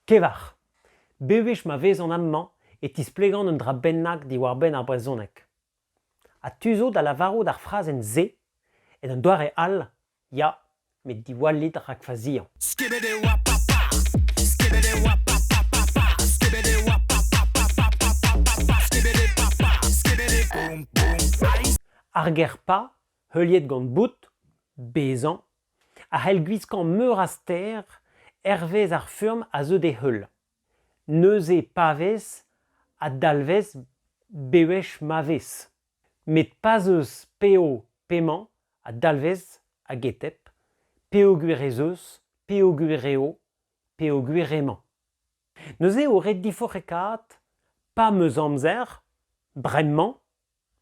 Kevar. Bewech ma vezan amañ e tisplegan un dra bennak diwar-benn ar brezhoneg. Ha tu zo da lavarout ar frazenn-se en un doare all? Ya, met diwallit rak faziañ. Skebet e oa papaz, skebet e oa papapapaz, skebet e oa papapapapapaz, skebet e papaz, skebet e boum boum. Ar ger pa, heuliet gant bout, bezañ, a c'hell gwiskañ meur a stêr hervez ar furm a zeu d'e heul, neuze pa vez a dalvez bewech ma vez, met pa'z eus p'eo p'emañ a dalvez a-getep peogwir ez eus peogwir eo peogwir emañ. Neuze eo ret diforc'hekaat pa 'm eus amzer bremañ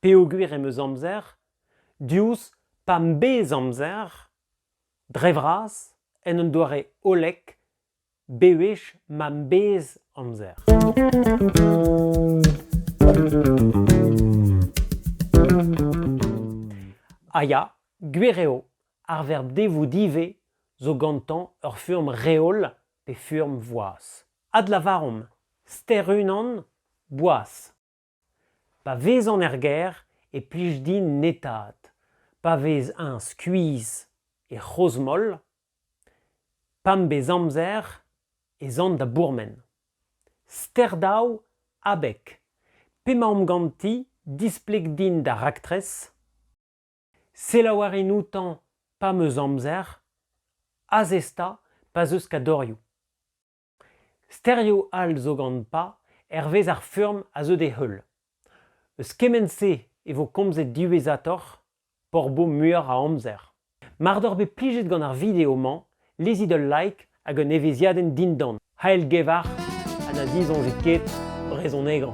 peogwir em eus amzer diouzh pa 'm bez amzer dre vras en un doare hollek bewech ma 'm bez amzer. Ha ya, gwir eo, ar verb devout ivez zo gantañ ur furm reol pe furm voaz. Adlavaromp ster unan boaz. Pa vezan er gêr e plij din netaat, pa vez-eñ skuizh e c'hrozmoll, pa'm bez amzer ez an da bourmen. Ster daou abeg, p'emaomp ganti displeg din da raktres, Selaou a rin outañ pa 'm eus amzer, azez-ta pa'z eus kadorioù. Sterioù all zo gant pa hervez ar furm a zeu d'e heul. Eus kement-se e vo komzet diwezhatoc'h, p'hor bo muioc'h a amzer. Mar doc'h bet plijet gant ar video-mañ lezit ul like hag un evezhiadenn dindan, Hael-gevar ha na disoñjit ket brezhonegañ.